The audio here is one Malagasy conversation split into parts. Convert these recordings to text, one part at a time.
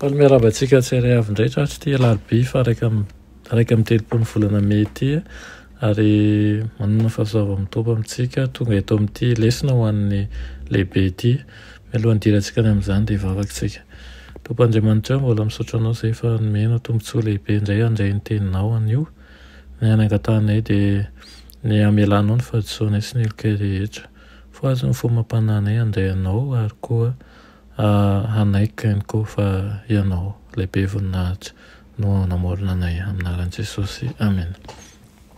Faly miarahaba antsika tsy ary avy indray tratry ity alarobia faha iraika amby iraika amby telopolo ny volana mey ity ary manana fahasoava mitombo amintsika tonga eto amin'ity lesona ho an'ny lehibe ity. Mialohan'ny hidirantsika any amin'izany dia hivavaka isika. Tompo Andriamanitra o, mbola misaotra Anao izay efa nomenao tombontsoa lehibe indray handray ny Teninao anio. Ny hanangatahanay dia ny hamelanao ny fahadisoanay sy ny heloka rehetra. Fohazo ny fomam-panahinay handray Anao ary koa Hanaiky ihany koa fa Ianao ilay be voninahitra no hanamorona anay. Amin'ny anaran'i Jesosy, amena.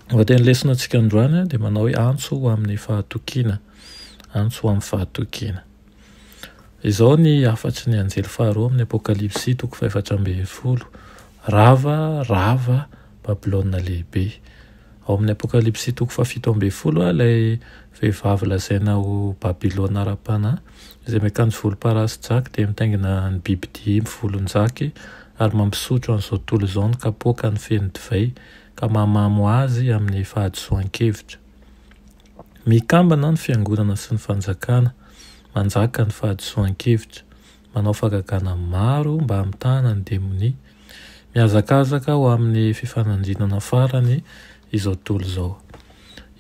Ny lohatenin'ny lesona antsika androany dia manao hoe antso ho amin'ny fahatokiana, antso ho amin'ny fahatokiana. Izao ny hafatry ny anjely faharoa amin'ny Apokalypsy, toko fahefatra ambin'ny folo, Rava, rava, Babylona Lehibe. Ao amin'ny Apokalypsy toko fahafito ambin'ny folo ilay vehivavy lazaina ho Babylona ara-panahy Izay miakanjo volomparasy jaky dia mitaingina ny bibidia mivolonjaky ary mampisotro an'izao tontolo izao ny kapoakany feno divay ka mahamamo azy amin'ny fahadisoan-kevitra. Mikambana ny fiangonana sy ny fanjakana, manjaka ny fahadisoan-kevitra, manao fahagagana maro mba hamitahana ny demonia, mihazakazaka ho amin'ny fifanandrinana farany izao tontolo izao.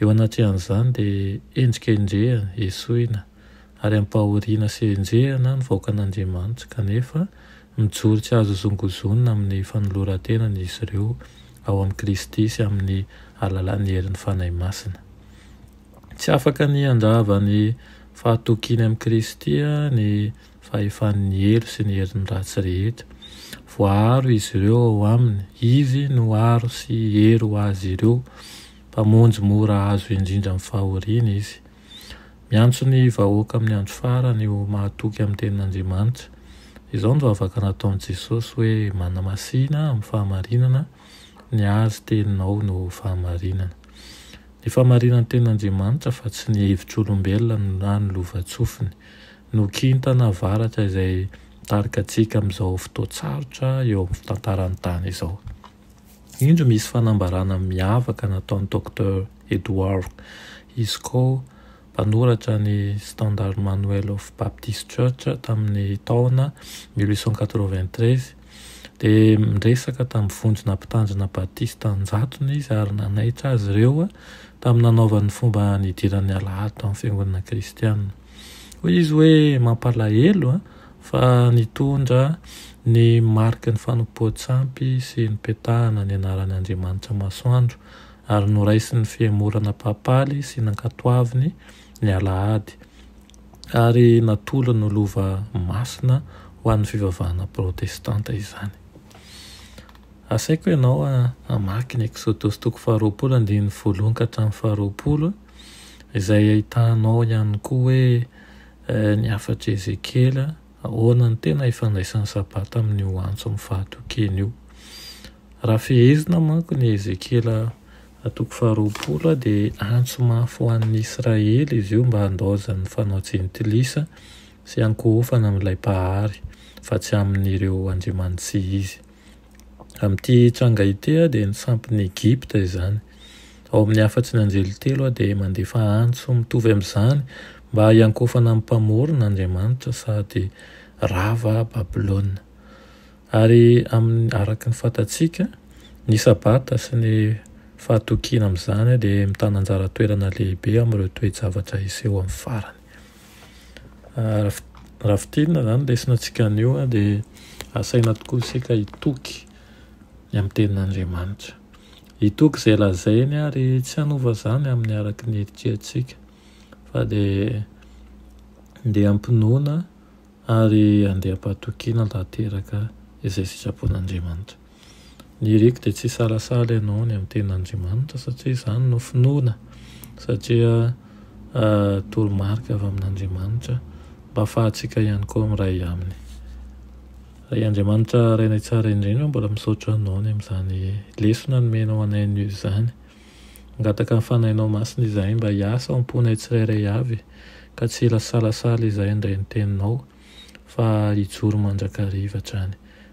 Eo anatrehan'izany dia endrika endrehana, esoina. ary ampahoriana sy enjehina ny vahoakan'Andriamanitra, kanefa mijoro tsy azo zongozonina amin'ny fanoloran-tenany izy ireo ao amin'i Kristy sy amin'ny alalan'ny herin'ny Fanahy Masina. Tsy afaka ny handrava ny fahatokiany amin'i Kristy ny fahefan'ny helo sy ny herin'ny ratsy rehetra. Voaaro izy ireo ao aminy, izy no aro sy hery ho azy ireo. Mpamonjy mora azo indrindra amin'ny fahoriana izy. Miantso ny vahoaka amin'ny andro farany ho mahatoky amin'ny tenin'Andriamanitra. Izao no vavaka nataon'i Jesosy hoe, Manamasina amin'ny fahamarinana, ny Azy teninao no fahamarinana. Ny fahamarinan'ny tenin'Andriamanitra fa tsy ny hevitr'olombelona na ny lovantsofiny no kintana avaratra izay mitarika antsika amin'izao fotoan-tsarotra eo amin'ny tantaran'ny tany izao. Indro misy fanambarana miavaka nataon'i Docteur Edward Iscoe, mpanoratra ny Standard Manual of Baptist Church tamin'ny taona mille huit cent quatre-vingt-treize, dia niresaka tamin'ny vondrona mpitandrina batista an-jatony izy ary nanaitra azy ireo tamin'ny nanaovany ny fomba nidiran'ny Alahady tamin'ny fiangonana kristiana. Hoy izy hoe, Mampalahelo an, fa nitondra ny mariky ny fanompoan-tsampy sy nipetahana ny anaran' Andriamanitra Masoandro, ary noraisin'ny fihemorana papaly sy nankatoaviny ny alahady, ary natolony ho lova masina ho an'ny fivavahana protestanta izany. Asaiko ianao hamaky ny Eksodosy toko faharoapolo andininy voalohony ka hatramin'ny faharoapolo. izay ahitanao ihany koa hoe ny hafatr'i Ezekiela, ahoana no tena ifandraisan'ny Sabata amin'io antson'ny fahatokiana io. Raha fehezina manko ny Ezekiela toko faharoapolo dia antso mafy ho an'ny Israely izy io mba handaozany fanao jentilisa sy hankohofana amin'ilay Mpahary fa tsy amin'ireo andriamanitsy izy. Amin'ity tranga ity dia ny sampin'i Egypta izany. Ao amin'ny hafatry ny anjely telo dia mandefa antso mitovy amin'izany mba hiankofana amin'ny Mpamorona, Andriamanitra, sady rava Babylona. Ary araka ny fantatsika, ny Sabata sy ny fahatokiana amin'izany dia mitana anjara toerana lehibe amin'ireo toe-javatra hiseho amin'ny farany. Raha fintinina izany ny resinantsika anio dia asaina tokoa isika hitoky ny amin'ny tenin'Andriamanitra. Hitoky izay lazainy ary tsy hanova izany amin'ny araka ny eritreritsika fa dia andeha am-pinoana ary andeha am-pahatokiana tanteraka izay sitrapon'Andriamanitra. Ny iriko dia tsy hisalasala ianao any amin'ny tenin'Andriamanitra satria izany no finoana satria toromarika avy amin'Andriamanitra mba hahafahantsika ihany koa miray Aminy. Ry Andriamanitra Rainay Tsara indrindra mbola misaotra Anao ny amin'izany lesona nomenao anay anio izany. Mangataka ny Fanahinao Masina izahay mba hiasa ao am-ponay tsirairay avy ka tsy hilasalasala izahay handray ny Teninao fa hijoro mandrakariva hatrany.